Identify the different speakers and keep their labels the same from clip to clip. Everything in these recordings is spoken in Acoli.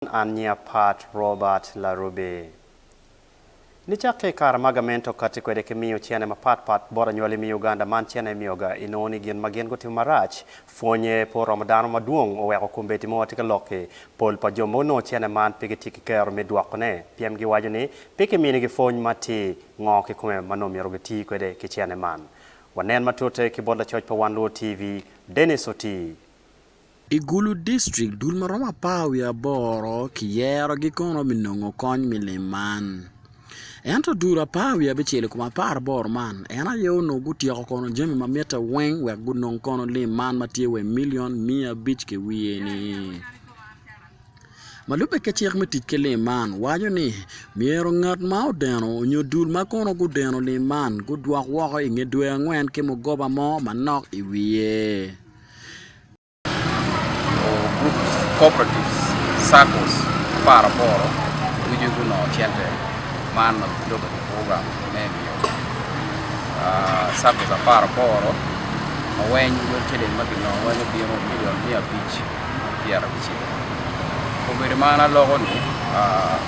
Speaker 1: An nya Pat Robert Larubi. Nicak ki i kare ma gamente okatti kwede ki miyo cene mapat pat bot anywali me Uganda, man cene miyoga inongo ni gin ma gin gutimo marac pwonye pe oromo dano madwong oweko kombeddi mo tye ka lokki. Pol pa jo ma onongo cene man pe gitye ki kero me dwokone pien giwaco ni pe kiminigi pwony ma ti ngo kikome ma nongo myero giti kwede ki cene man. Wanen matute ki bot lacoc pa Wan Luo TV, Denis Otii. I Gulu
Speaker 2: district, dul ma romo apar wiye aboro kiyerogi kono me nongo kony me lim man. Ento dul apar wiye abicel i kom apar aboro man, en aye onongo gutyeko kono jami ma mitte weng wek gunong kono lim man ma tye wa i milion miya abic ki wiye ni. Ma lubbe ki cik me tic ki lim man waco ni myero ngat ma odeno onyo dul ma kono gudeno lim man gudwok woko i nge dwe angwen ki mugoba mo manok i wiye.
Speaker 3: Groups, cooperatives, saccos apar aboro ducu gunongo cente man ma gibedo ki program me miyo saccos apar aboro ma weng lwet ciling ma ginongo weng obino milion miya abic ki pyera abicel. Obedo ma an aloko-ni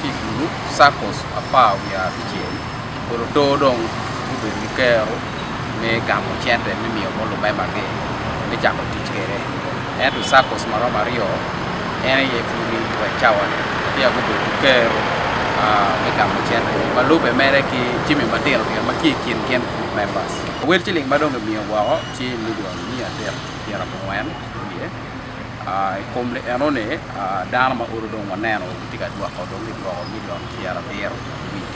Speaker 3: ki i gulup saccos apar wiye abicel. Luto dong gubedo ki kero me gamo cente me miyo bot lubemagi me cako tic kwede. Ento Circus ma romo aryo en aye pwonyo i Watch Tower-ni peya gubedo ki kero me gamo cente-ni. Ma lubbe mere ki jami matino tino ma tye i kin gin group members. Wel ciling ma dong kimiyo woko tye milion miya adek ki pyera abongwen ki wiye. I kom lienoni dano ma olo dong waneno gitye ka dwoko dong gidwoko milion pyera abiro ki wiye.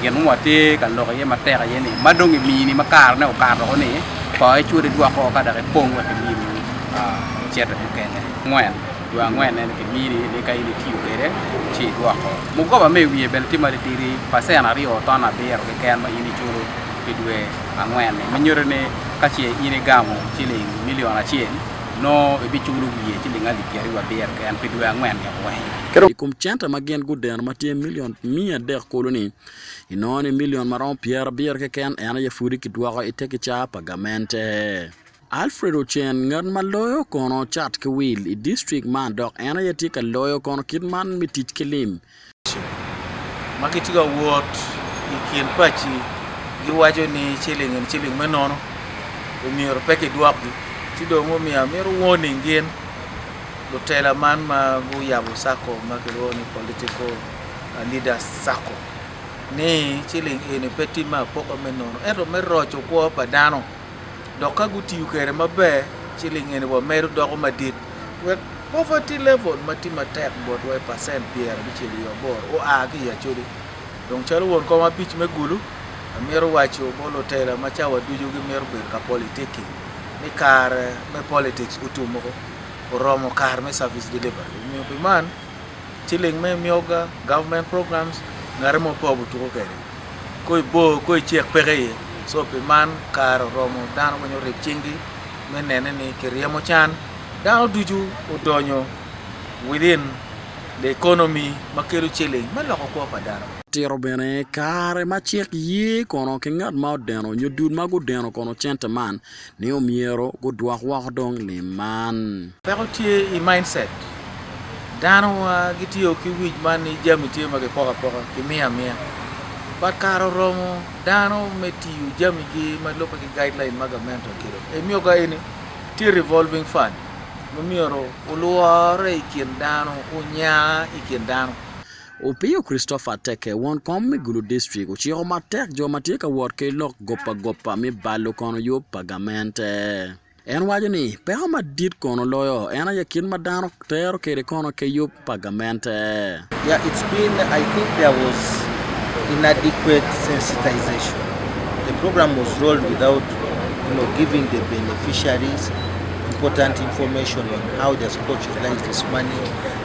Speaker 2: Gin ma watye
Speaker 3: ka lok iye matek aye ni, ma dong imini ma karene okato ni, to icwod idwoko ka dok ipong wek imini cente mukene. Angwen, dwe angwen ene kimini ni ka in itiyo kwede ci idwoko. Mugoba ma i wiye bene tye matitidi, pacen aryo ton abiro keken ma in iculo pi dwe angwen-ni, ma nyuto ni ka ce in igamo ciling milion acel, nongo ibiculo wiye ciling alip pyeraryo abiro keken pi dwe angwen-ni weng. I kom cente
Speaker 2: ma gin gudeno ma tye milion Me adek kulu ni, inongo ni milion ma romo pyerabiro keken en aye pudi kidwoko i te kicaa pa gamente. Alfred Ochen, ngat ma loyo kono cat ki wil i distrik man dok en aye tye ka loyo kono kit man me tic ki lim,
Speaker 4: ma gitye ka wot i kin paci giwaco ni ciling eni ciling me nono omyero pe kidwokgi ci dong omiyo amito warning gin. lutela man ma guyabo Sacco ma kilwongo ni Political Leaders Sacco ni ciling eni pe timme apoka me nono ento me roco kwo pa dano dok ka gutiyo kwede maber ciling eni wa medo doko madit wek poverty level ma tye matek botwa i percent pyera abicel wiye aboro oa ki i Acholi. Dong calo won kom abic me Gulu, amito waco bot lutela ma cawa ducu gimito bedo ka politicking ni kare me politics otum oko. oromo kare me service delivery omiyo pi man ciling me myoga, government programs, ngate mo pe obi tuko kwede ko i bor ko i cek peke iye so pi man kare oromo dano weng orib cingi me nene ni kiryemo can dano ducu odonyo within the economy ma kelo ciling me loko kwo pa dano. Tito bene
Speaker 2: kare ma cik ye kono ki ngat ma odeno nyo dul ma gudeno kono cente man. ni omyero gudwok woko dong lim man. Peko tye i
Speaker 4: mindset. Dano gitiyo ki wic man ni jami tye ma kipoko apoka, kimiyo amiya. But kare oromo dano me tiyo jamigi ma lubbe ki guideline ma gamente oketo. Emiyo ka eni tye revolving fund ma myero olworre i kin dano, onya i kin dano. Opiyo
Speaker 2: Christopher Ateke, won kom me Gulu District, ociko matek jo ma tye ka wot ki lok gopagopa me balo kono yub pa gamente. En waco ni, Peko madit kono loyo en aye kit ma dano tero kwede kono ki yub pa gamente. Yeah it's
Speaker 5: been I think there was inadequate sensitization the program was rolled without you know giving the beneficiaries important information on how they're supposed to utilize this money.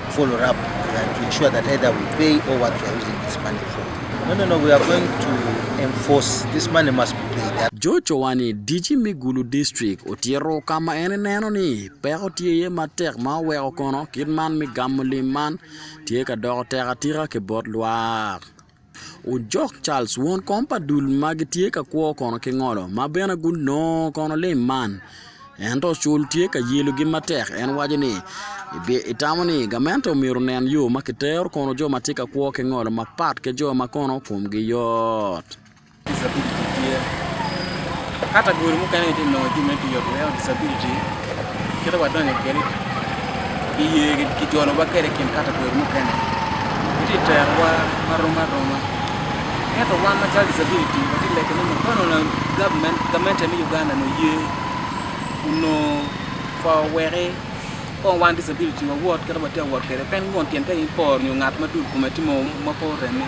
Speaker 5: George Chowani,
Speaker 2: DC me Gulu District, otyero ka ma en eneno ni peko tye iye matek ma oweko kono kit man me gamo lim man tye ka doko tek atika ki bot lwak. Ojok Charles, won kom pa dul ma gitye ka kwo kono ki ngolo, ma bene gunongo kono lim man. Ento ocul tye ka yelogi matek, en waco ni, Itamo ni gamente omyero onen yo ma kitero kono jo ma tye ka kwo ki ngolo mapat ki jo ma kono komgi yot? Disability tye
Speaker 3: ka ta gudi mukene gitye ka nongo jami me tic ot weko disability kite wadonyo kwede i ye kijolo wa kwede i kin ka ta gudi mukene gitye ka tero wa marom aroma ento wan macalo disability watye ka lego ni ma kong onongo government gamente me Uganda ni oye onongo kong oweki kong wan disability wawot kit ma watye ka wot kwede pien won tyen ka in ipor nyo ngat ma dul kome tye ma pe oreme.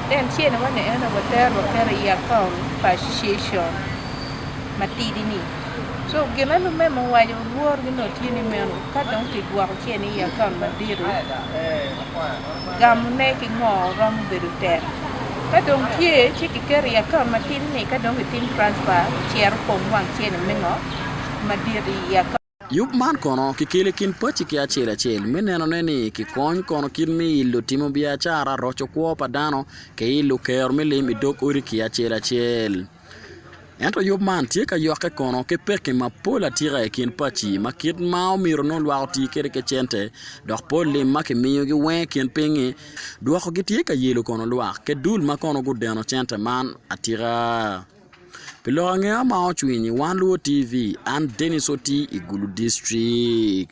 Speaker 6: En tye ni wene eno wa tero kene i account pa association matidi ni. So gine lumeme owaco lworo gi nongo tye ni meno ka dong ki gwoko ce ni i account madito gamo ne ki ngo romo bedo tek. Ka dong tye ci ki keto i account matidi ni ka dong ki tim transfer cito opong wang ce ni me ngo madit i account. Yub man kono
Speaker 2: kikelo i kin paci ki acel acel me nenone ni kikony kono kit me ilo timo biacara, roco kwo pa dano, ki ilo kero me lim i dog odi ki acel acel. Ento yub man tye ka yokke kono ki pekki mapol atika i kin paci ma kit ma omyero nongo lwak oti kwede ki cente dok pol lim ma kimiyogi weng i kin piny-ngi dwokogi tye ka yelo kono lwak ki dul ma kono gudeno cente man atika. Pi lok angeya ma ocwinyi, wan luwo TV, an Dennis Oti i Gulu District.